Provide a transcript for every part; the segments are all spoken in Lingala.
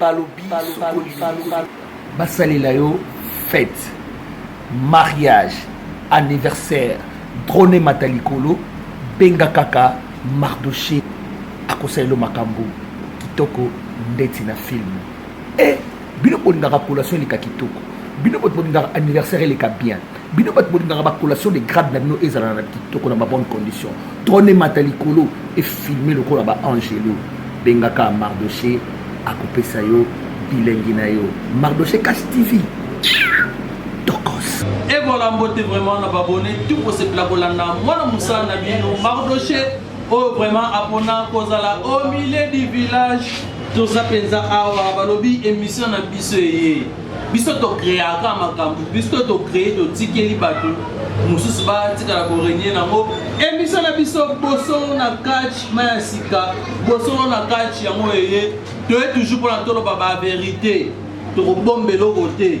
balobi basalela yo fete mariage anniversaire drone mata likolo benga kaka mardoche akosalela makambo kitoko ndeti na film e eh, bino bolingaka collation eleka kitoko bino bolingaka anniversaire eleka bien bino bato bolingaka bacollation de grade na bino ezala na kitoko na babonne condition trone emata likolo efilme lokola baangelo bengaka mardoche akopesa yo bilengi na yo mardoche cash tv tokos evola mbote vraiment na babone tout kosepela kolanda mwana mosala na bino mardoche oyo vraiment apona kozala au milieu du village toza mpenza awa balobi émission na biso eye biso tokreaka makambo biso tokree totikeli bato mosusu batikala korenie nango emisio na biso bosolo na catch ma ya sika bosolo na catch yango eye toye toujours mpona toloba baverité tokobomba eloko te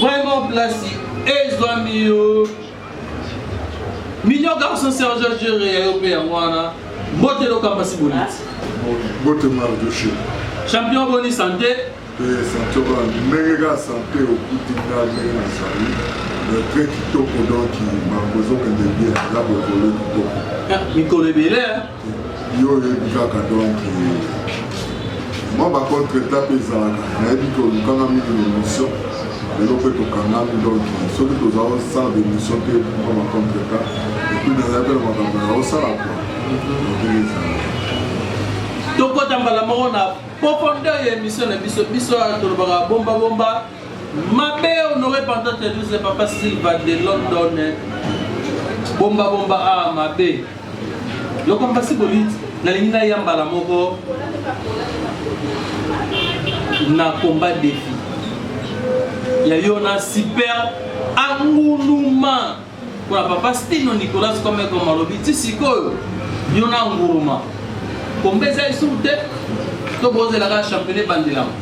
Vraiment place ezwami yo. Mignon garçon Serge Jere ya yo mpe yango wana. Mbote lokamba si boniti. Mbote Mardoche. Champion boni santé. Eh, santé wana ndenge kaka santé okuti nga ndenge nazali très kitoko donc bango ezokende bien eza bokolo kitoko mikolo ebele yo oyebi kaka donc mwa bacontre eta mpe ezalaka nayebi ke olukanga mingi na émission lelo mpe tokangami donc soki toza osala bémission mpe mwa bacontre eta epuis nazali mpe na makambo ya osala po ndenge ezalaka tokota mbala moko na profondeur ya émission na biso biso tolobaka bombabomba mabe honore pantateduse papa silva de london bombabomba a mabe Loko mpasi bolit nalingi na ya mbala moko na combat defi ya yo na super anguluma mpona papa stino nicolas komeko malobi ti sikoyo yo na nguruma komba eza esuku te to bozelaka championnat ebandelama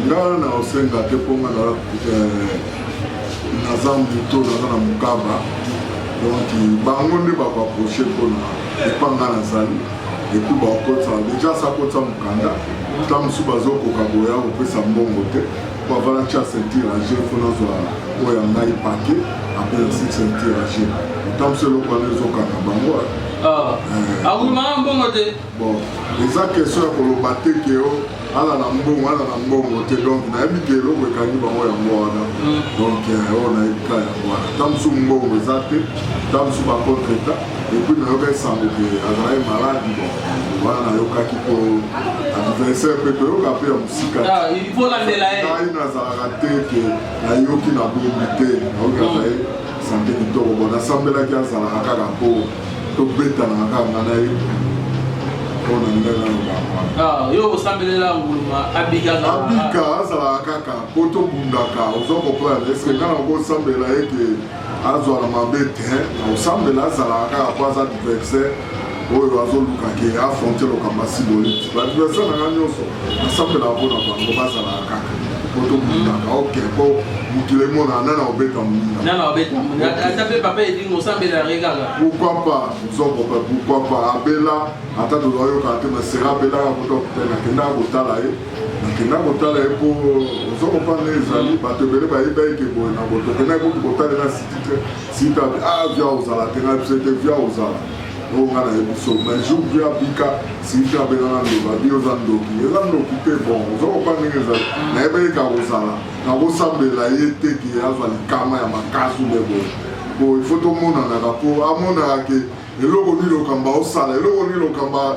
nga na osenga te mpo nga eh, naza moto naza na mokaba donc bango nde bakoaproche mpona epa nga nazali epuis bakotisa deja sakotisa mokanda ta mosusu bazokoka boya kopesa mbongo te mpo avana tya ceinture age mpo nazwa oyo ya ngai pake apres nasi ceinture age ta mosusu eloko wana ezokanga bango awumaka ah. eh. ah, mbongo te Bon, eza question ya koloba te ke o ala na mbongo ala na mbongo te donc nayebi ke eloko ekangi bango yango wana mm. donc eh, oyo nayebi ka yango wana ta mosusu mbongo eza te ta mosusu bacontre ta epuis nayoka esango ke azalaki maladi bon wana nayokaki po adversaire mpe toyoka mpe ya mosika ah, ngai nazalaka te ke nayoki na bombi te nayoki azali sante kitoko bon nasambelaki azalaka kaka po tobetanaka kaka nga na ye mpo na ndenge nalobaka yo osambelela nguluma abika abika azalaka kaka mpo tobundaka ozo comprendre eske nga na okosambela ye ke azwa na mabe te osambela azalaka kaka mpo aza diversaire oyo azoluka ke afronte lokambo asiboliti baadversaire na nga nyonso nasambela mpo na bango bazalaka kaka po tobundaka oke po mokili emona nana obeta moningaata mpe papa edingo osambela yango kaka pourquoi pas nzongo mpe pourquoi pas abela ata tozoyokaka te masera abelaka kuta kuta nakendaka kotala ye nakenda kotala ye mpo nzongo mpa nde ezali bato ebele bayeba eke boye na boto okendaki kutu kotalela sitite sita ah via ozala te ngai biso ete via ozala Oyo nga na yebi so mais jour bi abika Cynthia abenga na loba bi oza ndoki eza ndoki te bon ozo kopa ndenge eza na yebi eka kozala na kosambela ye te ki azwa likama ya makasi nde boye bo il faut tomonanaka po amonaka ke eloko nini lokamba osala eloko nini lokamba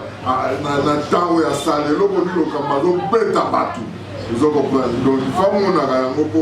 na ntango ya sala eloko nini lokamba azobeta bato ozo comprendre donc ifa amonaka yango po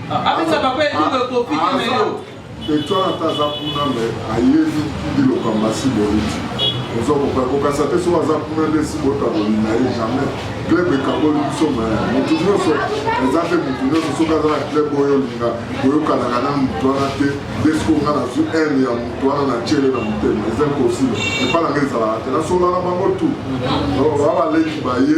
Abisa papa et tout le copie ah, mais yo. Et toi ata aza kuna me ayebi biloko ya masi boliti oza kopa kokasa te soki aza kuna nde si botaboli na ye jamais club ekaboli biso me motu nyonso eza te motu nyonso soki aza na club oyo olinga koyokanaka na motu wana te nde soki onga nazwi haine ya motu wana na tiele na motema eza impossible epa nanga ezalaka te nasolana bango tu baa baleki baye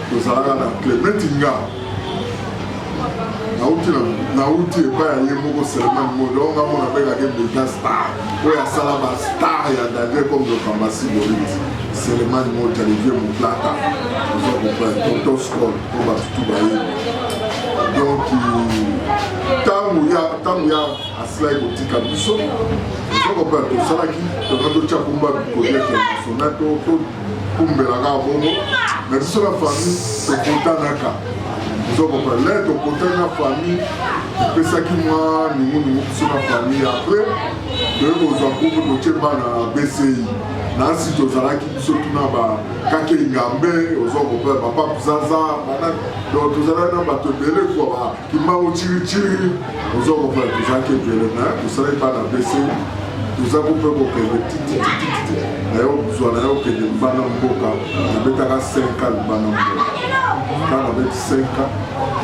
tozalaka na clement nga nauti nauti epai ya ye moko seleman mondo oyo nga mona bengaki mbeka star oyo asala ba star ya daniel comme lokamba siboliti seleman moto ya livier moplata oza comprendre tonton scol po bato tu bayebi donc ntango ya ntango ya asilaki kotika biso oza comprendre tosalaki tona totya kumba bikolia international kumbela kaka bongo na biso na famille tokutanaka ozokoma le tokutani na famille epesaki mwa ningunungu biso na famille apres toye kozwa kuku totie bana na bci nasi tozalaki biso tuna bakake ingambe ozokoma bapap zaza donc tozalaki na bato ebele kua kimbangu ciriciri ozo comprendre tozalaki ebele na tosalaki bana bese toza ko mpe kokende tititititi na yo zwa na yo okende libanda mboka nabetaka 5 a libanda mboka ka nabeti 5 a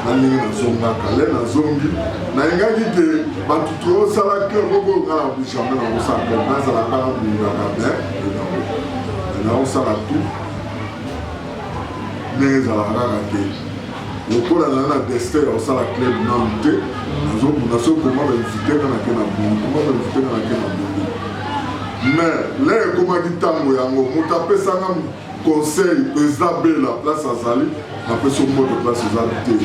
na ndenge nazongaka le nazongi nayengaki te bato tosala cleur moko nga na bijame na kosala nazalaka na bundaka me nakosala tout ndenge ezalaka kaka te lokola naza na destin ya kosala club nanu te nazomona soki koma bainvite nga nake na bongo koma bainvite nga nake na bongo mais le ekomaki ntango yango moto apesanga conseil eza bela place azali napesi omboto place eza te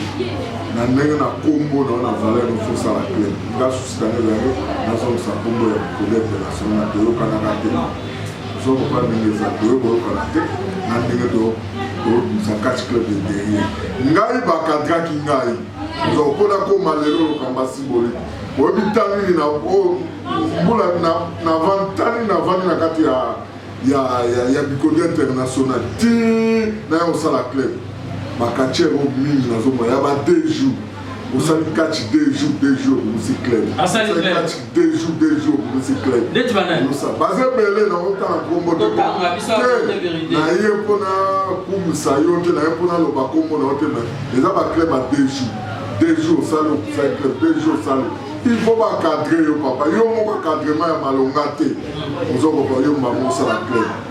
na ndenge na kombo na wana valeur ofosala club nga susi kanezange nazongisa kombo ya kolebela sona toyokanaka te Soko pa ndenge eza toye koyokana te na ndenge tobimisa catch club de guerrier ngai bakadraki ngai oza okona koma lelo lokamba simboli oyebi ntango nini na mbula navantani navandi na kati ya ya ya ya bikodi international ti na ya kosala club bakatiere oyo mingi nazomona ya ba deux jours osali catch deux jours deux jours okosi club asali catch deux jours deux jours okosi club ndeti banani baza ebele na otala nkombo te na ye mpo na kumisa yo te na ye mpo naloba nkombo na yo te eza baclub ya deux jours deux jours osali okusali club deux jours osali il faut bacadre yo papa yo moko cadrement ya malonga te ozokoka yo mbango osala club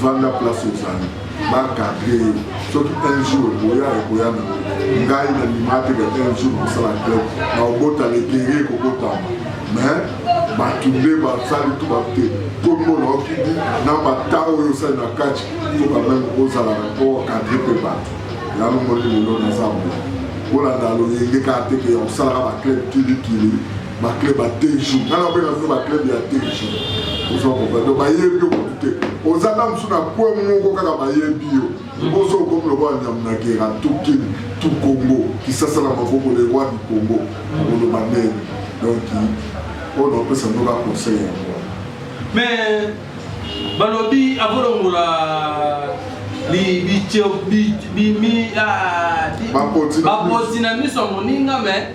vanda place ozali bakadre yo soki un jour ekoya ekoya na ngai na ndimate ke un jour kosala club na obota letere ekobotama mais bato nde basali to bate kombo na okidi na bata oyo osali na kati to bameme ozala na po okadre mpe bato yango moni lelo naza bo kolanda loyenge kaka teke ya kosalaka baclub kilikili ba club ya te jour nana mpe na bino ba club ya te jour ozo comprendre bayebi yo kutu te oza na mosusu na kwe moko kaka bayebi yo liboso okomi lokola nyambo na gera tukin tu congo kisasa na maboko le roi du congo akoloba nene donc oyo naopesa ngo ba conseil yango mais balobi akolongola bapoti na miso ya moninga mais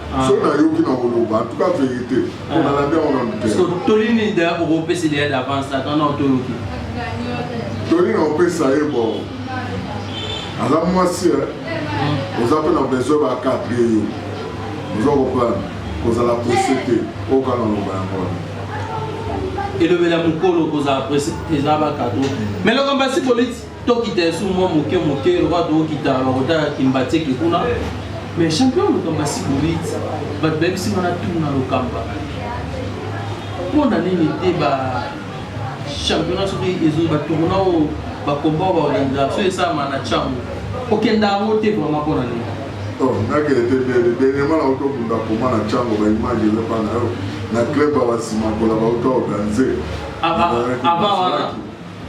so nayoki na koloba en tout cas vérité mpo ah. nalandi yango na motema toli nini da okopesa idea d'avance ata na otoluki toli na opesa ye bo aza mwasi eh. hmm. oza mpe na besoin bakadre yo oza koprendre kozala presse te oyoka na loba yango wana elobela mokolo kozala presse eza bakadre mais lokombasi politi tokita esu mwa moke moke lokola tokokita bakotaka kimbateke kuna mais champion lokamba sibolit bato bayebisi nga natuna lokamba mpo na nini te ba championnat soki ezoi batourna oyo bakomba oyo baorganisaka soki esalama na chango okenda yango te vraimen mpo na nini nakende te bele dernièrement na auto bunda koma na chango baimage eza mpa na yo na club ya basima kola bauto organise avant wana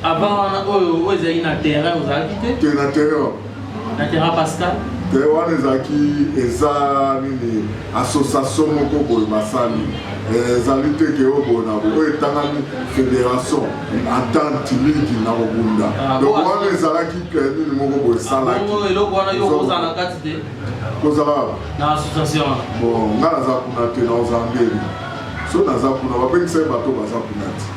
Avant wana oyo oyo ezali na terrain ozalaki te? Te na terrain wana. Na terrain Pascal? Te wana ezalaki eza nini association moko boye basali eh, ezali te ke oyo boye na oyo etangami fédération entente ligi na kobunda ah, donc wana ezalaki eh, nini moko boye esalaki ah, eloko wana yo kozala na kati te kozala na association bon ngai naza kuna te na ozambeli so naza kuna babengisaki bato baza kuna te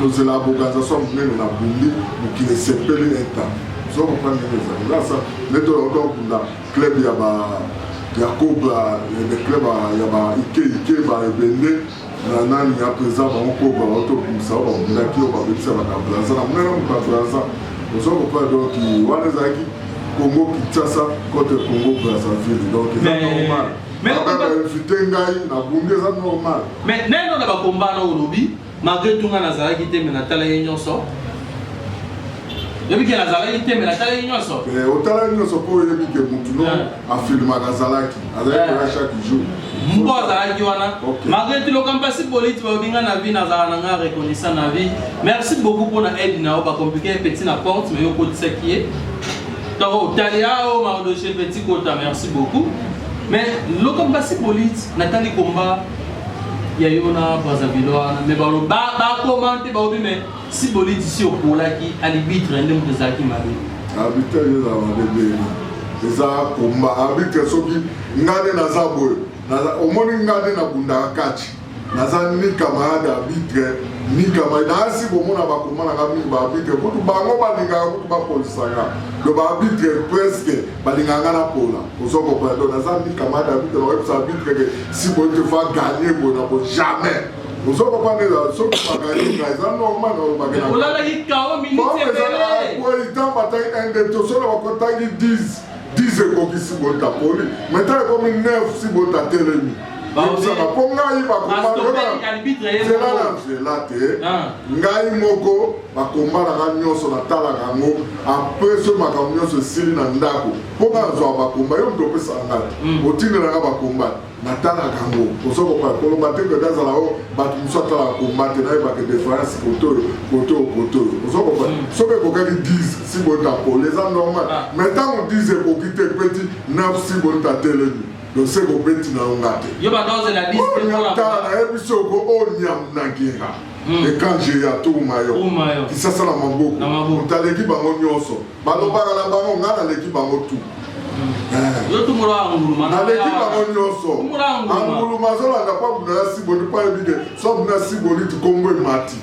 tozela aboganza so monene na bundi mokili esepeli eta so comprendre ndenge ezali lasa nde tolakota kokunda club ya ba ya koba le club ya ba ike ike ba ebende na nani ya président bango koba baotobimisa oyo babundaki oyo babebisa bakabraza na monene moto ya braza ozo comprendre donc wana ezalaki congo kinshasa contre congo brazzaville donc eza normal Mais on va inviter ngai na bunde ça normal. Mais nani on a ba combat na olobi malgré tout nga nazalaki te mais natala ye nyonso. Yebi ke nazalaki te mais natala ye nyonso. Mais eh, otala ye nyonso po yebi ke mutu no a filma nazalaki. Azalaki eh. chaque jour. Mpo azalaki wana. Malgré tout lokampa si politi balobi nga na vie nazala na nga reconnaissant na vie. Merci beaucoup pour na aide na yo ba compliquer petit na porte mais yo kotisaki ye. Toro Taliao Mardoché Petit Kota merci beaucoup mais loko basi polite natali combat ya yo na Brazzaville wana mais ba ba commente ba obi mais si polite si okolaki alibitre nde moto ezalaki mabe arbitre ezala mabe ndenge eza combat arbitre soki ngai nde naza boye omoni ngai nde nabundaka kati naza ni camarade arbitre ni camarade naasi komona bakoma na nga mingi baarbitre kutu bango balingaka kutu bapolisaka do baarbitre presque balingaka nga napola ozo comprendre naza ni camarade arbitre nakoyebisa arbitre ke si boye te fa gagne boye nako jamais ozo comprendre ezala soki baganye nga eza normal olobakelaoitamba tangi inde tosolo bakotangi 10 10 ekokisi botapoli maintenant ekomi 9 si botatelemi bozala mpo ngai bakomanzela na nzela te ah. ngai moko bakombalaka nyonso natalaka yango apres so makambo nyonso esili na ndako mpo nga nazwa bakomba yo moto opesa ngai hmm. otindelaka bakomba natalaka yango ozo koloba te mpe nazala o bato mosusu atalaka komba te nayebaka deference kotoyo kotoyo kotoyo ozo kopa hmm. soki ekokaki 10 si bonta pole eza normal ah. mais ntango 10 ekoki te peti 9 si bonta telemi dose kobeti na yo nga te yo badose na dise te mpo na tala nayebi soki oko onyam oh, na gera Hmm. ekanje ya tuma yo kisasa na maboko otaleki bango nyonso balobaka na bango ngai naleki bango tu hmm. eh. naleki bango nyonso anguluma azolanda mpo abunda na siboli mpo ayebi ke so abunda siboli tikombo emati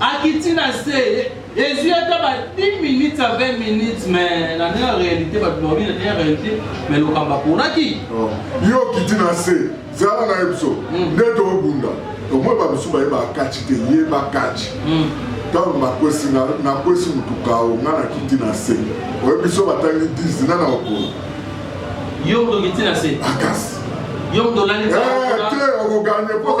akiti na se ezwi ata ba 10 minutes a 20 minutes mais na ndenge ya réalité bato baobi na ndenge ya réalité mais lokambo aponaki oh. yo okiti na se zala na ye biso hmm. nde tobunda omoi babisu baye bakati te ye bakati hmm. ntango nakwesi nakwesi motuka o nga nakiti na se oye biso batangi 10 na na okolo yo moto okiti na se akasi ah, yo moto olali eh, te okoganye mpo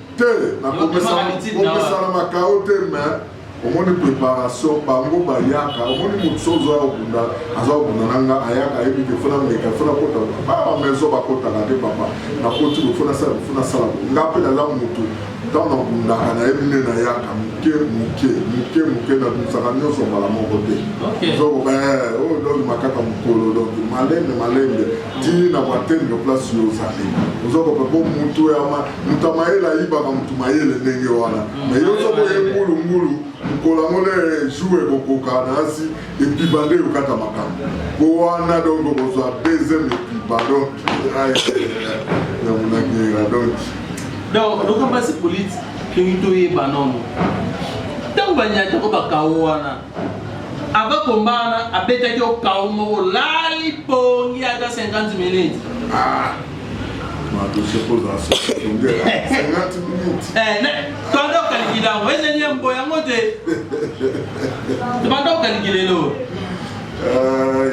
te nakopesana makao te me omoni préparation bango bayaka omoni motu so ozoya kobunda aza kobunda na nga ayaka ayebi te fona meka fona kota baba maison bakotaka te papa nakoti kofona sala kofona sala nga mpe naza motu ntango nabundaka nayebi nde nayaka moke moke moke moke nabimisaka nyonso mbala moko te zokoba eh, oyo oh, donc makaka mokolo donc malembe malembe ti na batembe place yo ozali ozokoba po motu ya Moto ya mayele ayibaka moto mayele ndenge wana mm. mais yo ozoboye mbulumbulu mokolo yango nde jour ekokoka na asi epiba nde yokata makambo po wana donc okozwa deuxième epiba donc ya monakera donc donc lokamba se politi toyeba nono ntango banyata ko bakao wana Avant combat wana abetaki yo kao moko lali pongi ata 50 minutes. Ah. tanda okalingi nango ezali ya mbo yango te tobanda okalingi lelo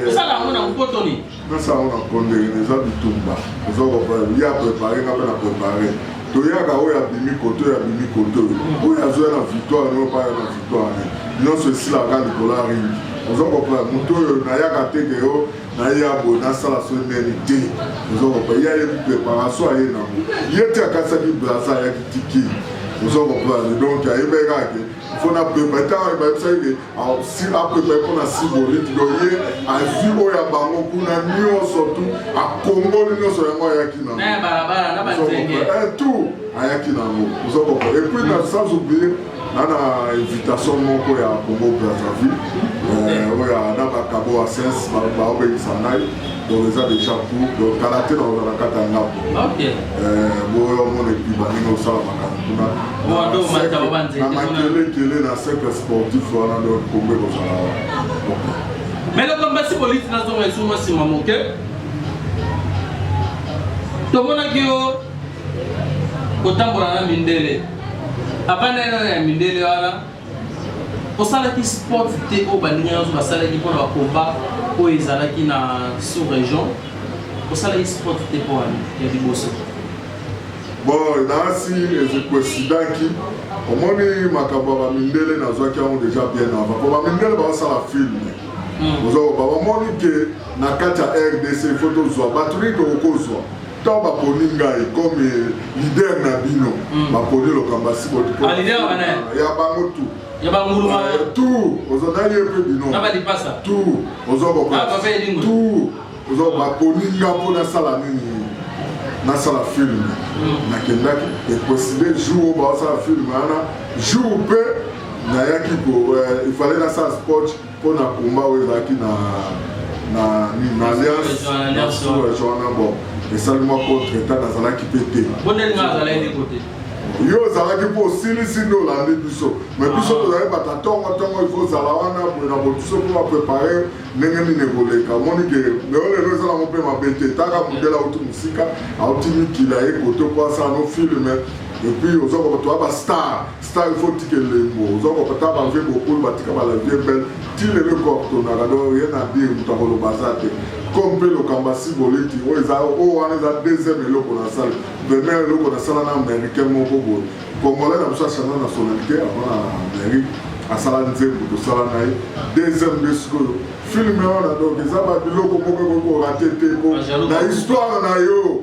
osala yango na mpotoni pesa yango na kondekene eza bitumba oza koprepare ye aprepare nga mpe na prepare toyaka oyo abimi kote oyo abimi kote oyo oyo azoya na victoire nayo baya na victoire ne nyonso esilaka likolo ya ringi oza koprepare moto oyo nayaka te ke yo naye ya boye nasala so neni te oza koprepare ye ayebi preparation aye nango ye te akasaki brasa ayaki tiki oza koprepare donc ayebekake mpo na prepare ntango ayebisaki ke apema mpo na siboliti do ye azwi oyo ya bango kuna nyonso tu akongoli nyonso yango ayaki na eh, tout ayaki na yango ozo comprendre et puis na sans oublier na na invitation moko ya congo brazzaville eh, oyo na bakabo asense baobengisa ngai donc eza déjà cour donc kala te na ozala kati ya ndako boyo omona epi baninga osala makambo kuna na makelekele na cercle sportif wana donc kombe kozala wana mais lokola mbasi polisi nazonga esuma nsima moke tomonaki yo kotambola na mindele abanda ena ya mindele wana Osalaki spot te oyo baninga nionso basalaki mpo na ba combat oyo ezalaki na sous region? Osalaki spot te mpo wana ya liboso? Bon, nasi ezicoincidaki omoni makambo ya bamindele nazwaki yango deja bien avant mpo bamindele baosala filme hmm. ozokoba bamoni ke na kati ya rdc ifo tozwa bato nini tokokozwa tant baponi ngai comme leader na bino hmm. baponi lokamba ah, ya bango tout ya banguluma eh, tout ozodali ye mpe bino na balipasa tout ozokoka ah, tout ozo baponi nga mpo nasala nini nasala film hmm. nakendaki ekoside jour oyo baosala film wana jour mpe nayaki ko eh, ifale nasala sport Mpo na combat oyo ezalaki na na nini na alliance na sura joana bon esali mwa contre etat nazalaki mpe te yo ozalaki mpo osilisi nde olandi biso mai biso ah. tozalaki bata ntongo ntongo ifo ozala wana boye na bobiso mpo baprepare ndenge nini ekoleka omoni ke leo lelo eza nango mpe mabe te taka mondele auti mosika auti mikila ye koto mpo asala no filme epuis ozokoka toya bastar Star il faut tika elembo oza ko pata ba vie bokul ba tika ba la vie belle ti lelo ko tonaka donc rien à dire mutu ko loba za te comme pe lokamba si boleti o eza o wana eza deuxième eloko na sala première eloko na sala na américain moko boye congolais na biso achana na sonalite avant na amérique asala nzembo tosala na ye deuxième nde sikoyo filme wana donc eza ba biloko moko ekoki korate te po na histoire na yo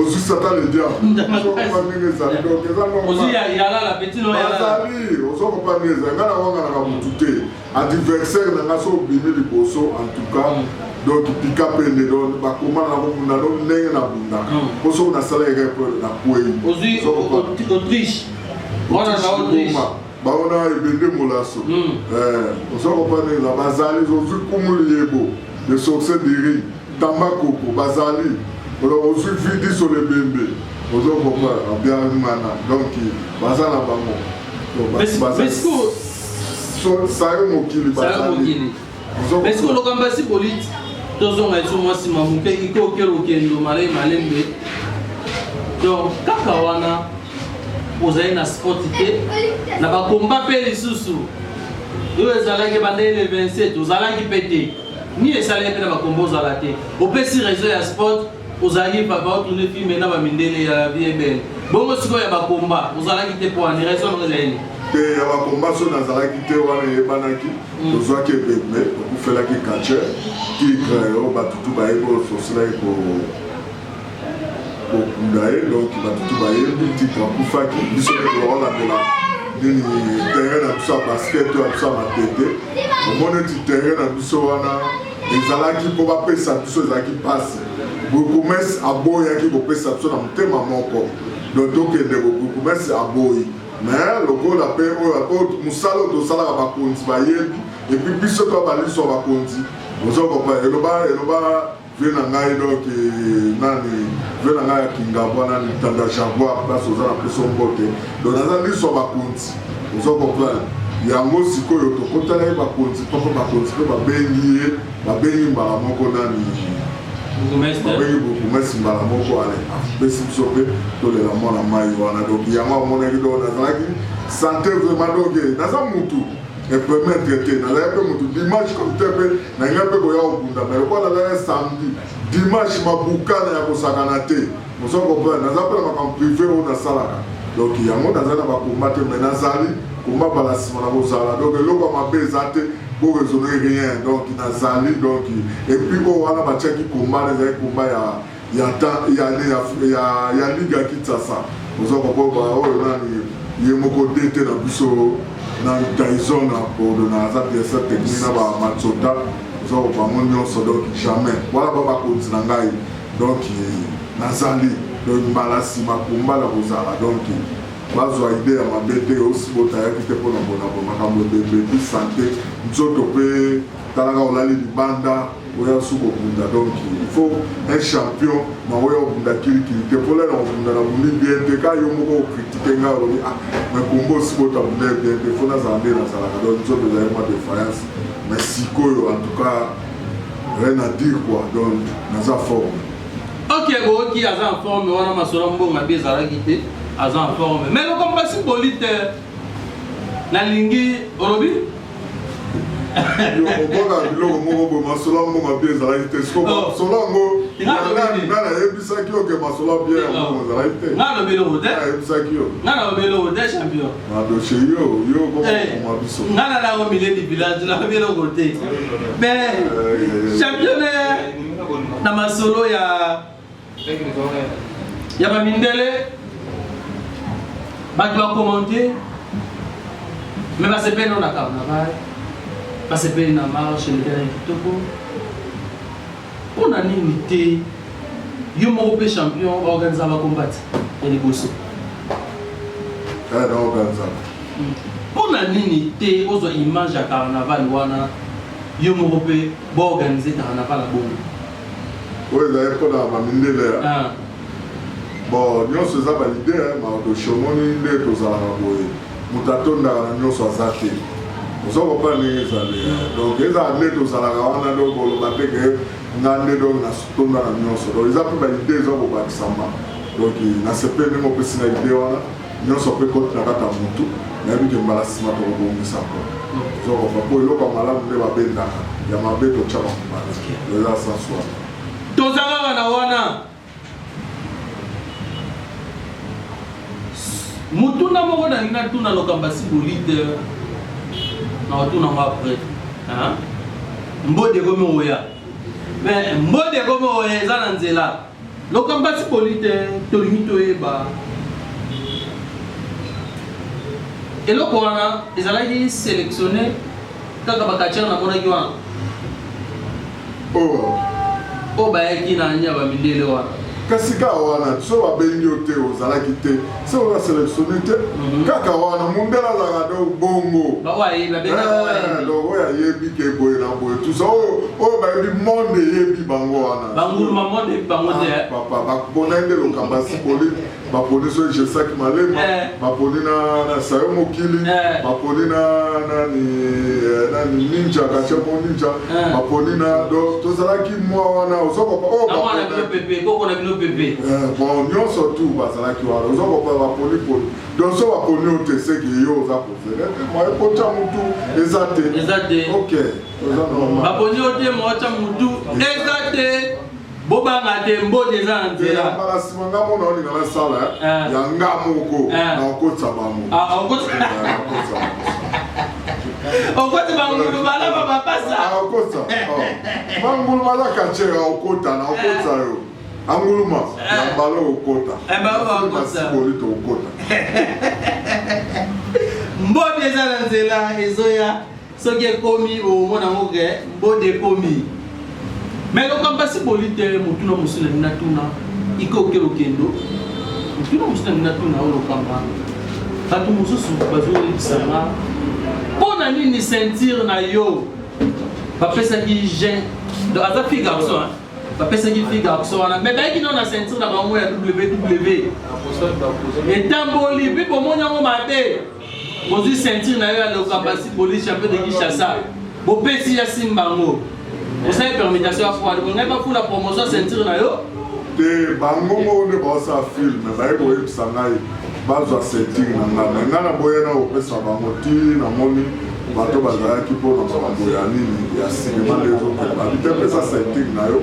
ozwi satan le diableozokopa ndenge ezali donc eza bazali ozokopa ndenge ezali ngai nawanganaka motu te adversaire na ngai so obimi liboso en tout cas donc pika pende don bakoma na kobunda do ndenge na bunda mpo mm. soki nasalaki kaka na kwei ozokopa bango na ebende molaso eh, oza kopanela bazali ozwi kumu liyebo le sorcier du riz tamba koko bazali ozwi vidi sur lebembe ozo kopana biangana donc baza na bango sayo mokili bazali Merci koloka mbasi politi tozonga esu mwasi mamuke ikoke okendo malai malembe donc kaka wana ozali na sport te na bakomba mpe lisusu oyo ezalaki banda ele 27 ozalaki mpe te ni esalaki mpe na bakomba ozala te opesi réseau ya sport ozalaki papa otune filme na bamindele ya vie belle bongo sikoyo ya bakomba ozalaki te mpo ani raison yango ezali te ya bakomba so nazalaki te wana eyebanaki Tozwaki ebembe okufelaki catcheur tigre oyo bato tu bayebi oyo eforcelaki kokunda ye donc bato tu bayebi tigre akufaki biso nde tokolandela nini terrain na biso ya basket oyo ya biso ya matete omoni eti terrain na biso wana ezalaki mpo bapesa biso ezalaki mpasi bourgmestre aboyaki kopesa biso na motema moko donc tokende bourgmestre aboyi mais lokola mpe oyo mosala oyo tosalaka bakonzi bayebi epuis biso to baliso ya bakonzi ozo kopa eloba eloba vie na ngai donc eh, nani vie na ngai ya kingabwa nani tanda jaguar place oza na peso mbote donc naza liso ya bakonzi ozo kopa yango sikoyo tokotalaki bakonzi mpoko bakonzi mpe babengi ye Babengi mbala moko nani? Babengi bourgmestre mbala moko ale apesi biso mpe tolela mwana mai wana donc yango amonaki donc nazalaki sante vraiment donc eh, naza mutu epermettre te nazalaki mpe mutu dimanche comme te mpe nalingai mpe koya kobunda mai lokola nazalaki samedi dimanche mabukana ya kosakana te Ozo comprendre naza pe na makambo prive oyo nasalaka donc yango naza na ba combat te mais nazali combat bala nsima na kozala donc eloko ya mabe eza te bo raisonner rien donc nazali donc et puis oyo wana batiaki combat na ezali combat ya ya temps ya ya ya, ya ligue ya Kinshasa ozo comprendre oyo nani ye moko DT na biso na Tyson na Bordeaux na aza directeur technique na ba Matsota ozo bango nyonso donc jamais wana ba bakonzi na ngai Donc nazali donc mbala sima kumba na kozala donc bazwa idee ya mabe te osi botayaki te mpona bonabo makambo ebembe mpi sante nzoto mpe talaka olali libanda oya su kobunda donc il faut un champion na oya obunda kilikili te mpola na kobunda na bundi bien te ka yo moko okritike nga olobi ah mais kombo osi bota bunda bien te fo nazala nde nazalaka donc nzoto ezali mwa defiance mais sikoyo en tout cas Rien à dire quoi, donc naza forme. Ok, boki aza en forme, wana masolo mbonga bi ezalaki te, aza en forme. Mais le combat si poli te, nalingi olobi okoka biloko moko boye masolo ya mbongo bie ezalaki te sikomasolo yango nani ayebisaki yo ke masolo ya bie ya mbongo ezalaki te ayebisaki yo Madoche yo yo koma eh, biso. Nga na lango mileni village na bino kote. Mais eh, champion eh, na masolo ya ya ba mindele bato ba commenter mais basepeli na carnaval basepeli na marche ndele kitoko Pona nini te yo moko pe champion ba organiser ba combat ya liboso? Eh, na organiser. Hmm. Pona nini te ozwa image ya carnaval wana yo moko pe ba organiser carnaval ya bongo? Oyo ezali pona ba mindele ya. Ah. Bon nionso eza ba idee hein, Mardoche omoni nde tozalaka boye moto atondaka na nionso aza te oza kopa ndenge ezali donc ezala nde tozalaka wana donc boloba te ke nga nde donc natonda na nionso donc eza mpe ba idee eza kobakisama donc nasepeli ndenge opesi na idee wana nyonso mpe koti na kati ya motu nayebi ke mbala nsima tokobongisa mpo ozokopa mpo eloko ya malamu nde babendaka ya mabe totyaka mobali eza sans soin Toza kaka na wana. Mutuna moko na ngina tuna lokamba si bolite na otuna ngo après. Hein? Mbode komi oya. Mais mbode komi oya eza na nzela. Lokamba si bolite tolingi toyeba eloko wana ezalaki sélectionné Kaka ba catcheur na monaki wana. Oh. Oh bayaki na anya ba mindele wana. Kasi kaka wana so babengi yo te ozalaki te se oza selectionne te mhm. kaka wana mundele azalaka do bongo eh, donc oyo ayebi ke boye na boye tusa oyo oh, oh, bayebi monde eyebi bango wana ah, papa bakubona nde lokamba sikoli baponi so jesaki malema eh. baponi na sayo mokili eh. baponi na nani eh, nani ninja kachemo ninja baponi na do tozalaki mwa wana ozo kopa o oh, bon nyonso tu bazalaki wana ozo kopa baponi poni donc so baponi yo te seki yo oza kozele te mwa ekotya motu eza te ok baponi yo te mwa otya motu eza te bobanga te mbodi eza na nzela mbala nsima nga mona olinga nasala eh? eh. ya nga moko eh. na okotisa bango ah, okotisa bangulu balaba bapasa ah, okotisa oh. bangulu balaka cera okota na okotisa yo anguluma na mbala okota nasiboli tokota mbodi eza na nzela ezoya soki ekomi omona yango ke mbodi ekomi me lokambo asi boli te motuna mosusu nalingi natuna ikoke lokendo motuna mosusu nalingi natuna oyo lokamba bato mosusu bazoyebisanga mpo na nini ceinture na yo bapesaki gen donc aza fille garçon bapesaki fille garçon wana me bayaki nao na ceinture na bango ya ww etamboli mpe bomoni yango mabe ozwi ceinture na yo ya lokabasi police ya mpe de kinshasa bopesi ya simba yango osali permutation ya fwale bongai bafula promotion ya ceinture na yo te bango moko nde baosala filme baye koyebisa ngai bazwa ceinture na ngai me ngai naboya na kopesa bango ti namoni bato bazalaki mpo na makambo ya nini ya sinema nde ezokende babitepesa ceinture na yo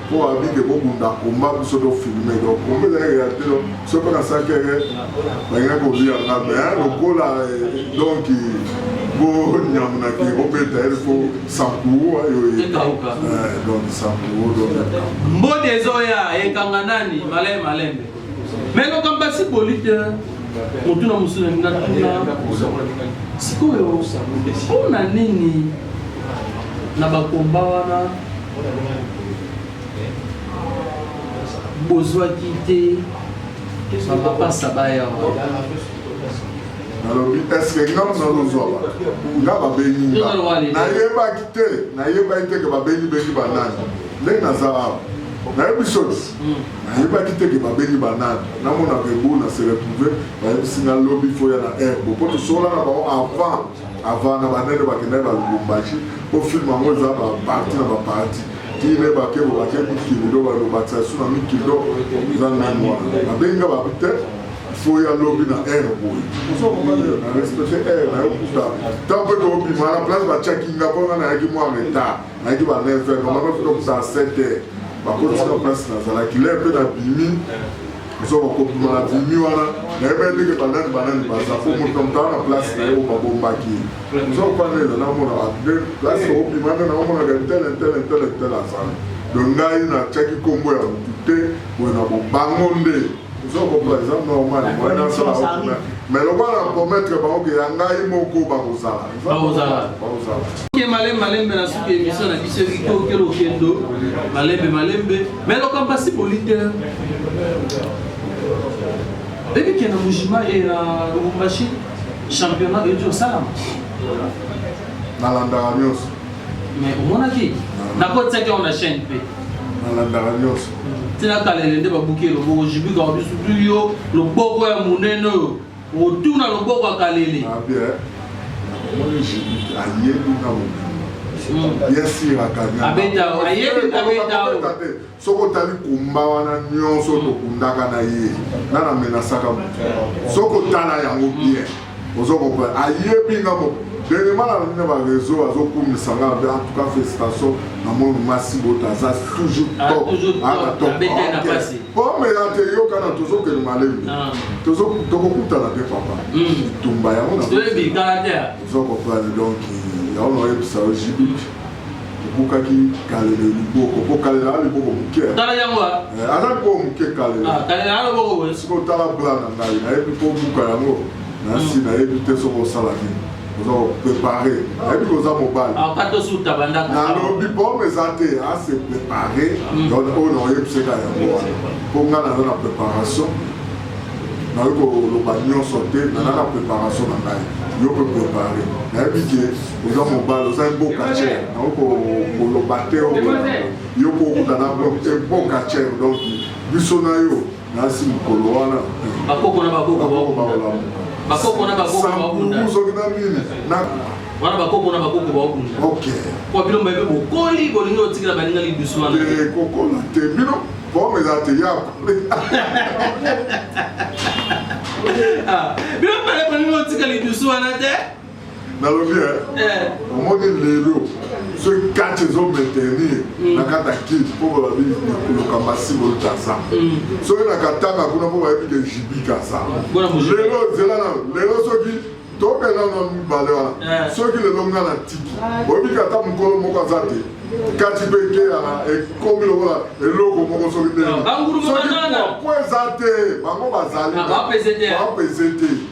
po abi ke bobunda komba biso to filme donc komba ezalaki realite donc soki mpe nasalaki eke balinga kolia nga me lokola donc bonyamunaki obeta il faut sankuo ayo donc sankuo donc mbodi ezoya ekanga nani malai malembe me makambo ya siboli te motuna mosusu nalingi natuna sikoyo mpo na nini na bakomba wana bozwaki te bapapasa baya nalobi eske nga mona nozwa bato nga babengi nga nayebaki te nayebaki te ke babengi bengi banani ndenge naza awa nayebi soki Nayebaki te ke babengi ba nani. Namona Rebo na se retrouver bayebisi nga lobi faut oya na Rbo po tosolola na bango avant avant na ba nene bakendaki ba Lubumbashi po film yango eza ba parti na ba parti ti ne bake bo bake mikili do balo bakisa su na mikili do eza nani wana babengi nga ba te faut ya lobi na aire boye na respecte aire nayo kuta ntango mpe tobima na place batiaki nga mpo nga nayaki mwa retard nayaki ba 9 heures mama mpe tokota 7 heures bakotisaka place nazalaki lere mpe nabimi soko kobima na bimi wana nayebaki ndenge banani banani baza po moto motala na place na ye oyo babombaki soko pana eza namona bande place okobima nde naomonaka ntele ntele ntele ntele azali don ngai natyaki nkombo ya motu te boye na bobango nde ozo comprendre eza normal moyen na sala kuna mais lokola na promettre bango ke ya ngai moko bakozala bakozala bakozala ke malembe malembe na suki emission na biso eziki okelo kendo malembe malembe mais lokamba si bolite bebi kenda mujima e ya lubumbashi championnat ejo osalama nalandaka nyonso mais omonaki nakotisaki yango na chaîne mpe nalandaka nyonso tina kalele nde babuki eloboko jibika obisutuli yo loboko ya monene oyo otuna loboko ya kalele ayebi na mobimba yesiraka abeta ayebi abeta Soki otali kumba wana nyonso tokundaka na ye, nana menasaka moto. Soki otala yango bien, ozo comprendre. Ayebi nga mo ndenge mala na ba réseau azokumisa nga be en tout cas félicitation na moni masi bota aza toujours Ah, top toujours top. ana top Abeta ye na Ok. pasi. Pome ya te yokana tozokende malembe Ah. Tozo- tokokutana te papa Mm. tumba yango na toyebi caractère ozo comprendre donc yango naoyebisa yo jibi Tobukaki kalele liboko mpo kalele aza liboko moke tala yango eh, aza liboko moke kalele ah, kalele aza liboko boye sikoyo tala bla na ngai nayebi mpo obuka yango nasi hmm. nayebi te soki osala nini oza koprepare nayebi koza mobali ah, nalobi bome eza te ase ah, prepare hmm. oyo naoyebiseka yango wana mpo ngai naza na preparation nayoki koloba nyonso te naza na preparation na ngai yo mpe prepare nayebi ke oza mobali oza mboka cher naoko koloba te yo mpo okutana mboka cher donc biso na yo nasi mokolo wana bakoko na bakoko bakokolamuka soki na nini wana bakoko na bakoko baokunda po bino mbaye mpe bokoli bolingi otikela baninga lidusu wana eh, kokola te bino bome eza te yako ah, bino mbale bolingi otika lidusu wana te nalobi eh. omoni lelo soki kati ezomaintenir mm. na kati ya kiti mpo balobi koloka masibo kaza mm. soki na katanga kuna mpo bayebi ke jibi kaza lelo zela na lelo soki tobela na mibale wana eh. soki lelo nga na tiki oyebi kata mokolo moko aza te kati mpe ekeyaka ekomi lokola eloko moko soki te soki po eza te bango bazali bapese te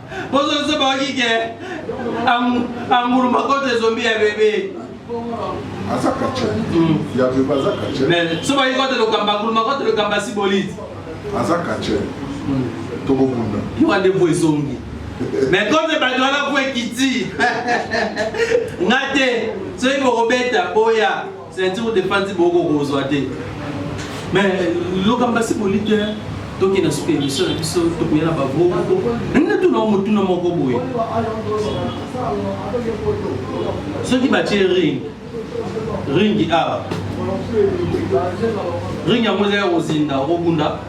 Bozo se ba ki ke angulu makoto ezombi ya bebe. Aza kache. Hmm. Ya bebe aza kache. Mais so ba ki kote lokamba angulu makoto lokamba si bolite. Aza kache. Hmm. Toko bunda. Yo ande bo ezongi. mais comme bato wana po ekiti nga te soki bokobeta boya Ceinture de panzi boko kozwa te. Mais loka mbasi bolite toke na suka emission na biso tokoya na bavoko nalingi natuna o motuna moko boye soki batie ring ringi awa ring yango ezali kozinda okobunda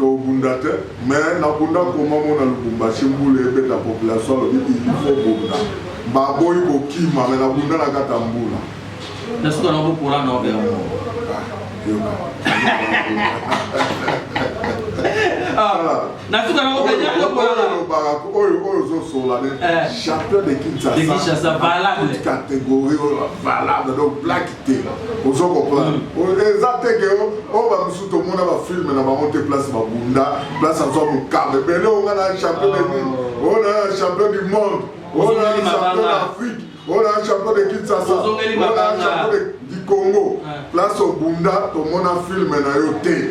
Tobunda te mais na bunda koma mona lubumbashi mbula ebeta population alobi il faut bunda ba boyi kokima mais na bunda na kata mbula na suka na bokola na obela mo na suka na obela na bokola na obela oyo oyo zo sola ne eh. champion de Kinshasa de Kinshasa valable catégorie valable donc black te ozo comprendre mm. eza te ke oyo oh, bamosusu tomona bafilme na bango te place babunda place azwa mokaba ebele oyo nga na champion de nini ah. oyo na champion du monde oyo na champion d'afrique oyo na champion de kinsasa oyo na champion de du congo ah. place obunda tomona filme na yo te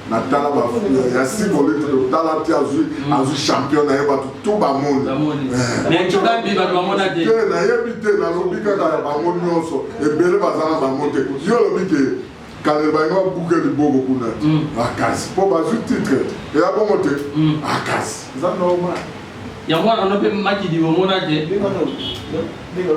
na tala ba ya siko lete to tala ti azui mm. azui champion na ye bato tout bamoni eh. te nayebi te nalobi kaka ya bango nyonso ebele baza na bango te yo olobi ke kale balingi babuke liboko kuna mm. makasi mpo bazwi titre eya bongo te mm. makasi eza normal yango wana no mpe makidi omona te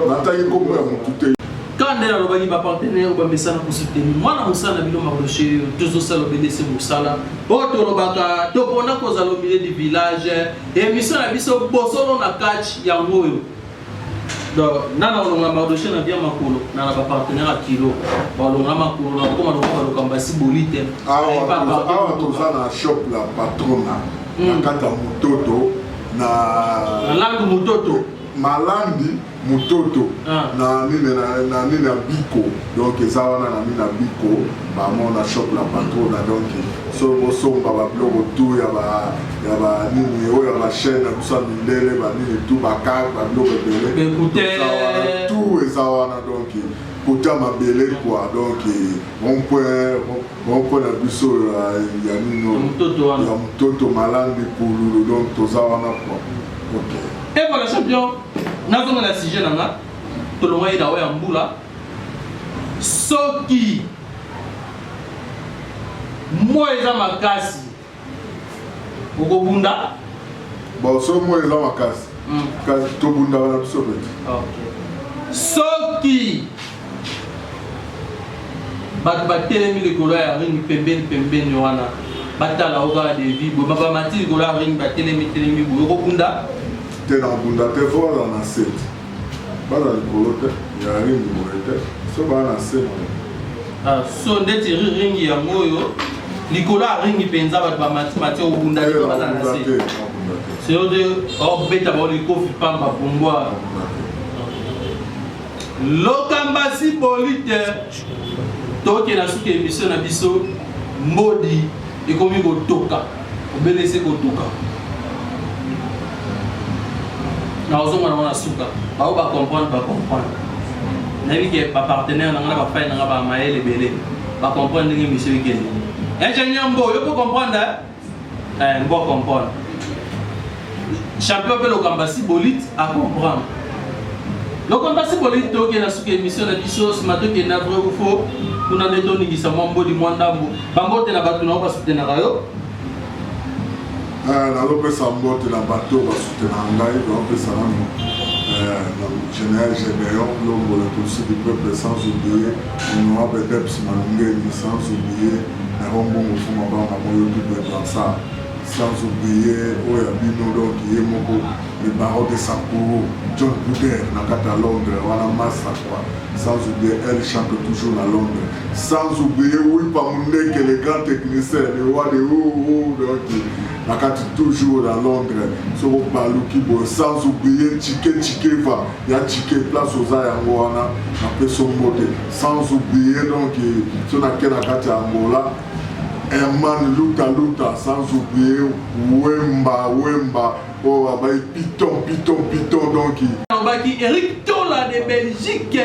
nataki nkombo ya motu te kaka nde nalobaki bapartenere bamesana kosuteni mwana mosala na bino maroshe tozosala obelese mosala oyo tolobaka topona kozala obile du village emission na biso bosolo na catch yango oyo donc nana olonga mardoche na bia makolo na na bapartenaire ya kilo balonga makolo na bakoma lokola balokamba si boli te awa toza na shop la patrona hmm. na kati ya mototo na malandu mototo malandi mototo ah. na nini na nini ya biko donc eza wana na nini ya biko bamona shop la patrona donc so bosomba babiloko tu ya ba ya ba nini oyo ya ba chaîne na biso ya mindele ba nini tout ba carte ba biloko ebele Bekute. Eza wana, tout eza wana donc kote ya mabele quoi donc rond-point rond-point na biso ya ya nini oyo? Mototo wana. ya mototo malandi pululu donc toza wana quoi ok Et voilà champion, nazonga na sujet na nga, tolongaki na oyo ya mbula. Soki moi eza makasi okobunda baoso moi eza makasi hmm. kasi tobundaka na biso peti soki bato batelemi likolo ya ring pembeni pembeni wana batala o kaka devi boye babamati likolo ya ring batelemi telemi boye okobunda te nakobunda te fo aza na sete Baza likolo te, ya ringi boye te, so baa na se boye. Ah, so ndeti ringi yango oyo likolo ya ringi mpenza bato bamatimati obunda te baza na se seyo te obeta bao likofi pamba pumbwa lokambasi bolite tokela suki emission na biso mbodi ekomi kotoka obele ese kotuka na ozonga nango na suka bao bacomprendre bacomprendre nayebi ke bapartenaire na nga na bafai na nga bamayele ebele bacomprendre ndenge misio ekende ingénieur mbo yo po comprendre Eh, mbo comprendre. Champion pe lokamba si bolite a comprendre. Lokamba si bolite toke na suka émission na biso ce matin qui est na vrai ou faux. Kuna nde toningisa mwa mbodi mwa ndambo. Bambote na bato na yo basutenaka yo. Eh, nazopesa mbote na bato basutenaka ngai baopesa nano eh, général gédéon longolo tosi du peuple sans oublier honorable deps malungeli sans oublier Naro mbongo fo mabanga moyo double dansar sans oublier oyo ya bino donc ye moko le baron de Sapporo John Bouder na kati ya Londres wana massa quoi sans oublier elle chante toujours na Londres sans oublier Wipa Mundeke le grand technicien le roi de oh oh donc na kati toujours na Londres soko baluki boye sans oublier Chike Chikeva Ya tshike place oza yango wana na peso mbote sans oublier donc so na ke na kati ya Angola Herman Luta Luta sans oublier Wemba Wemba oyo oh, abai piton piton piton donc alobaki Eric Tola de Belgique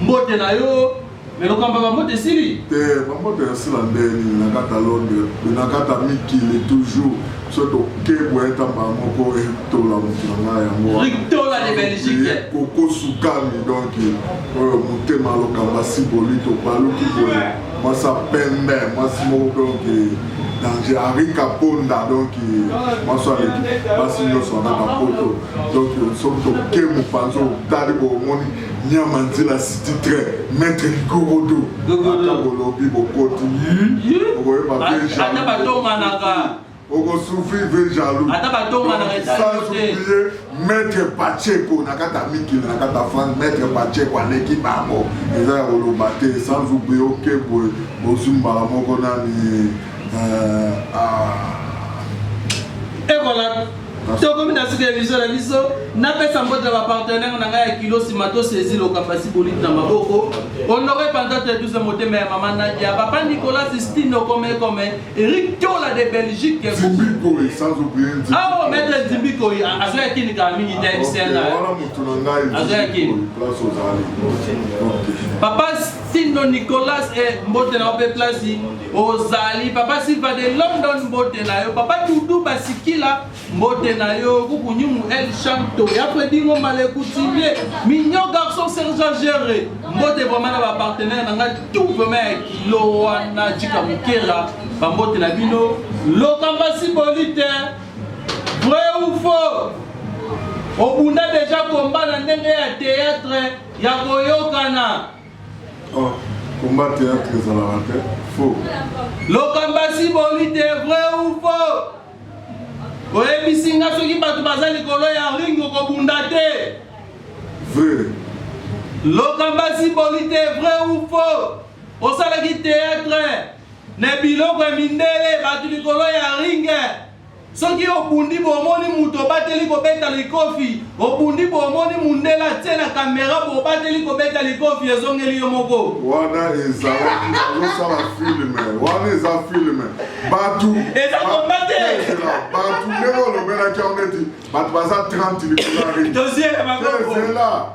mbote na yo Mais lokambo ba mbote esili? Te, ba mbote ya sila ndeni na kata londe, na kata mikili toujours. So to kebwa eta ba moko etola mutuna na yango. Ritola de Belgique. Koko sukami donc oyo mutema lokamba si bolito baluki boye. Masa pembe, masi moko donc danger henri kaponda donc maso aleki basi nyonso anaka poto donc soki tokemu mpanza otali bomoni Nyama nzela city train maître Gorodo ata bolobi bokoti yi okoyeba veja ata batonganaka okosufrir ve jaloux ata batonganaka sans oublier maître Pacheco na kati ya mikili na kati ya France maître Pacheco aleki bango eza ya koloba te sans oublier okebwe bozwi mbala moko nani euh, ah. ekola tokomi na suka ya biso na biso napesa mbote ya bapartenere na ngai ya kilo nsima tosezi lokapasi boliti na maboko honore pantate duze motema ya mama nadia papa nicolas stino komekome erik tola de belgique awa maître nzimbikoi azo ya kini kala mingi te msna azo ya kini papa stino nicolas e mbote na yo mpe place ozali papa silva de london mbote na yo papa dudu basikila mbote na yo kukunyumu el chanto ya fredingo malekutimie mignon garçon sergent gere mbote vraimen na bapartenaire na ngai tout vraimen ya kilo wana jika mokera bambote na bino lokamba simbolite vrai ou faux obunda deja komba na ndenge ya théâtre ya koyokana Oh, combat théâtre ezalaka te faux lokambasi boli te vrai ou faux oyebisi nga soki bato baza likolo ya ring okobunda te vrai lokambasi boli te vrai ou faux osalaki théâtre na biloko ya mindele bato likolo ya ringe Soki obundi bomoni moto obateli kobeta likofi, obundi bomoni mundela tse na kamera bobateli kobeta likofi ezongeli yo moko. Wana ezalaki bazosala filme, wana eza filme. Bato eza komba te. Bato ndenge olobelaki yango neti bato baza 30 likolo ya ringi. Tozela bango.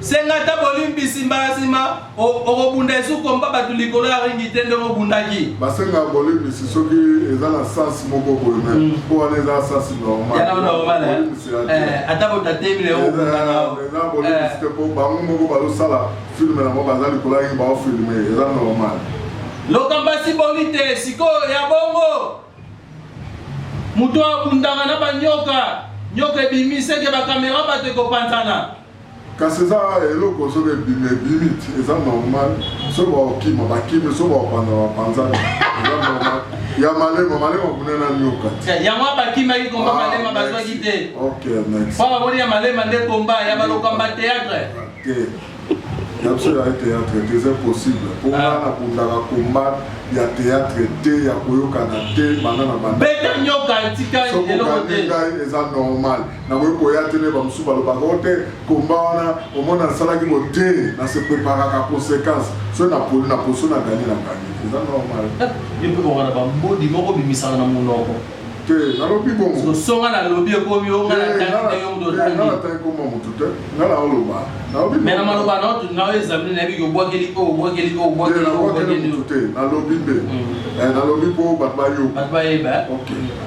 Senga ata bolimbisi mbala nsima okobunda esu kompa bato likolo ya ringi te ndenge obundaki. Basenga bolimbisi soki eza na sens moko boye me mm. mpo wana eza sens normal. Yana normal eh? eh, ata botatemi na yo obundana. Eza bolimbisi te mpo bango moko bazosala filme na bango baza likolo ya ringi baofilme eza normal. Lokambasi boni te sikoyo ya bongo moto abundaka na banyoka nyoka ebimi seke bakamera bato ekopanzana Kasi eza eloko soki ebimi ebimi ti eza normal soki bakokima bakimi soki bakopanza bapanzani eza normal ya malema malema kuna na nyoka ti yango abakimaki komba malema bazwaki te ok merci mpo baboni ya malema nde komba ya balokamba théâtre te ya biso ya théâtre te eza possible mpo nga nabundaka komba ya théâtre te ya koyokana te banda na banda beta nyoka tika eloko te soki okangi ngai eza normal nakoki koya te nde bamosusu balobaka o te komba wana omona nasalaki bo te na se preparaka conséquence soki napoli na poso na gani na gani eza normal yo mpe kokana bambodi moko bimisaka na monoko te nalobi bongosonga nalobi ekomi yo ngai natangi yo moto otangi ngai natangi koma moto te ngai naoloba nalobi me na maloba na otu na yo ezamini na yebi obwakeli o obwakeli o obwakeli o obwakeli te nalobi nde mm. eh, nalobi mpo bato bayoka bato bayeba eh?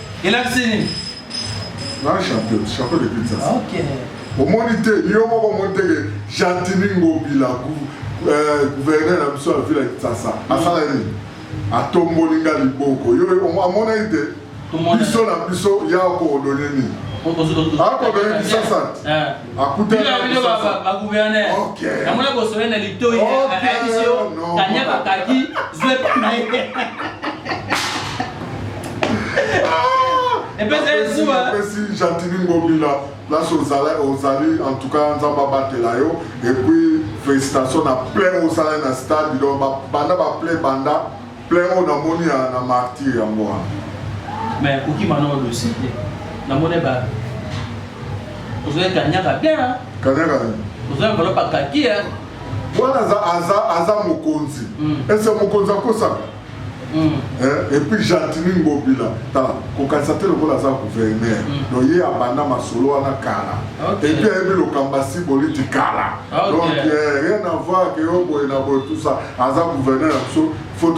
elakisi nini na chantier chantier de pizza okay. omoni te yo moko omoni te ke jantini ngobila euh, gouverneur na biso ya vila kisasa asala nini atomboli nga liboko yo amonaki te biso na biso ya koodone nini akodone kisasa bagouverneur namona bosole na litoi ayebisi yo kanya bakaki zwe mpona ye epesa ye zuwa epesi jantini ngobila place ozali ozali en tout cas nzambe abatela yo epuis félicitation na plein osala na stade donc banda baplay banda Plein oyo namoni ya na martyr yango wana. Mais akoki mana oyo dossier te. Namoni ba ozoya kanyaka bien. Kanyaka nini? Ozoya bolo pa kaki ya. Wana aza aza aza mokonzi. Mm. Ese mokonzi akosaka. Mm. Eh, et puis Gentini Ngobila tala kokanisa te lokola aza gouverneur mm. donc ye abanda masolo wana kala okay. et puis ayebi lokamba si boliti kala okay. donc eh, rien à voir ke yo boye na boye tout ça aza gouverneur na biso fo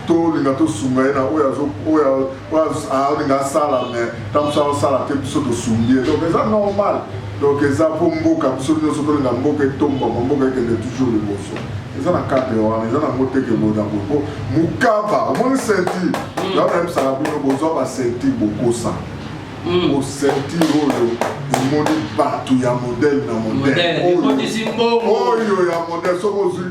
tolinga tosunga ye na oyo alinga asala me ntango biso azosala te biso tosungi ye donc eza normal donc eza mpo mboka biso nyonso tolinga mboka etombama mboka ekende toujours liboso eza na cadre wana eza nango te ke boye na boye mpo mokaba omoni senti hmm. yango nayebisaka bino bozwa basenti bokosa mosenti hmm. oyo omoni bato ya modele na modele oyo ya modele soki ozwi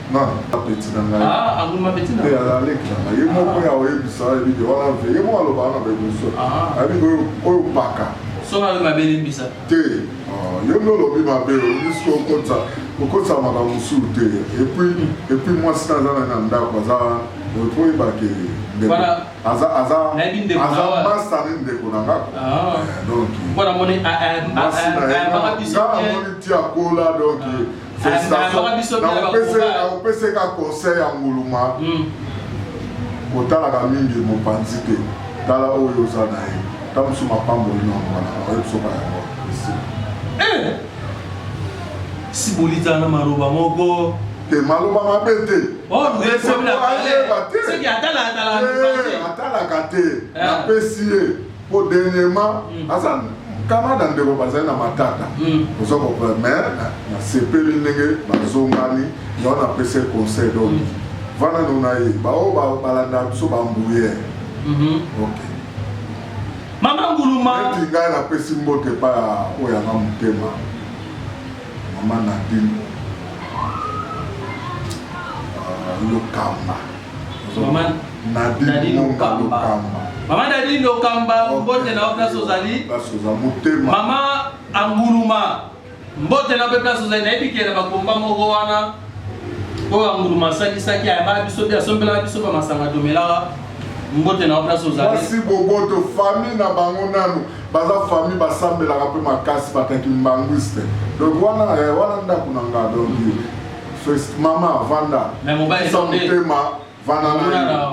na apeti na ngai ah, eh, aleki na ngai ye moko ya oyebisa ebike wana mpe ye moko alobaka na baebiso ah. ayebike oyo paka soki ayo mabe limbisa te ah, yo nde olobi mabe obisi kokotisa kokotisa makambo mosusu te epuis epuis mwasi na aza na na ndako aza po oyebake aza aza aza masta ne ndeko na nga donc mwana moni ayambaka biso te amoni ti akola donc nakopeseka conseil ya nguluma hmm. kotalaka mingi mopanzi te tala oyo oza na ye ta mosusu mapamboli na mwana oyebisoka yango eh! sibolitana maloba moko te maloba mabe te oh, atalaka te eh, napesi ye po dernièrement aza Canada ndeko bazali na matata oza comprendre mais nasepeli ndenge bazongani yango napesi ye conseil donc vanda no na ye baoyo balandaka biso bambuyere ok mama nguluma eti ngai napesi mbote epai ya oyo yanga motema mama nadine lokamba Maman Nadine Okamba. Maman Nadine Okamba, mbote na place ozali. Place oza motema. Maman Anguluma. Mbote na pe place ozali nayebi kela ba komba moko wana. Oyo Anguluma asalisaki ayaba biso bi asombelaka biso ba masanga tomelaka. Mbote na place ozali. Mwasi boboto famille na bango nanu baza famille basambelaka pe makasi bakaki mbanguiste. Donc wana eh, wana ndako na nga donc First mama vanda. Mais mobali Sa nde. motema vanda na Mwana ye. na-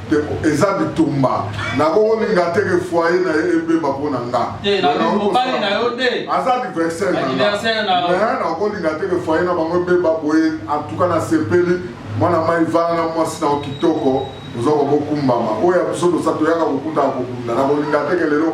Te- Eza bitumba. Nakokolinga te ke foyer na ye ebeba mpo na nga. Te, na yo, mobali na yo te. Aza adversaire na nga. Adversaire na yo. Mais nakolinga te ke foyer na bango ebeba boye. En tout cas nasepeli. Mwana mai vanda mwasi na yo kitoko. Oza kobokumbama. Oyo ya biso tosa toyaka kokutana kokunda. Nakolinga te ke lelo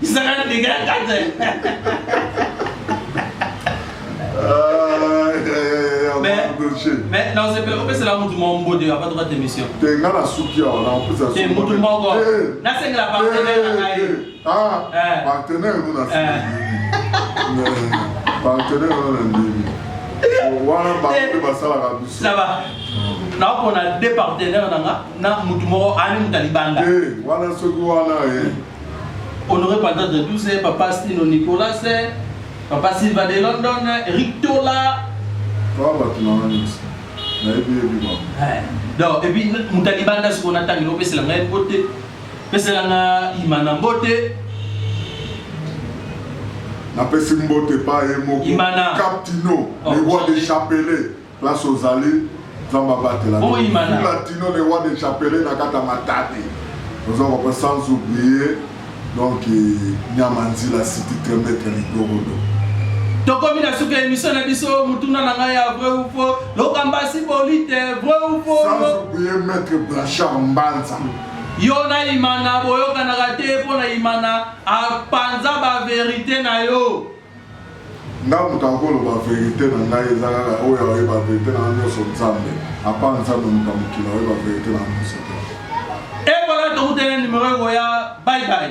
Isaka ndenge ya kata. Mais non, c'est pas c'est là mutu moko mbode ya bato kata émission. Te nga na suki ya wana en plus ya suki. Te mutu moko. Na sengi la partenaire na ngai. Ah, partenaire nous na suki. Partenaire nous na ndimi. Wana ba basalaka biso. Ça va. naopona de partenaire na nga na motu moko ani moto alibanda wana soki wana Honore Panda de 12, Papa Stino Nicolas, Papa Silva de London, Eric Tola. Papa Batunanga Nix, nayebi yebi mama. Eh, donc, et puis, Moutalibanda, ce qu'on attend, il opesse la même beauté. Pesse la nga, il m'en a beauté. Napesi mbote pa ye moko Imana. Captino, oh, le roi des chapelets. Place ozali nzambe abatela latino le roi de chapele na kata matadi oza kopa sans oublier donc nyama nzila siti tremetre ligorodo tokomi na suka ya emission na biso motuna na ngai ya vrai ou faux lokambasi bolite vrai ou faux sans oublier maître blanchard mbanza yo na imana boyokanaka te mpo na imana apanza baverite na yo Nga moto akoloba verite na ngai eza kaka oyo aoyeba verite na nyonso Nzambe apa Nzambe moto ya mokili aoyeba verite na nyonso te. Et voilà tokutana numero ekoya bye bye.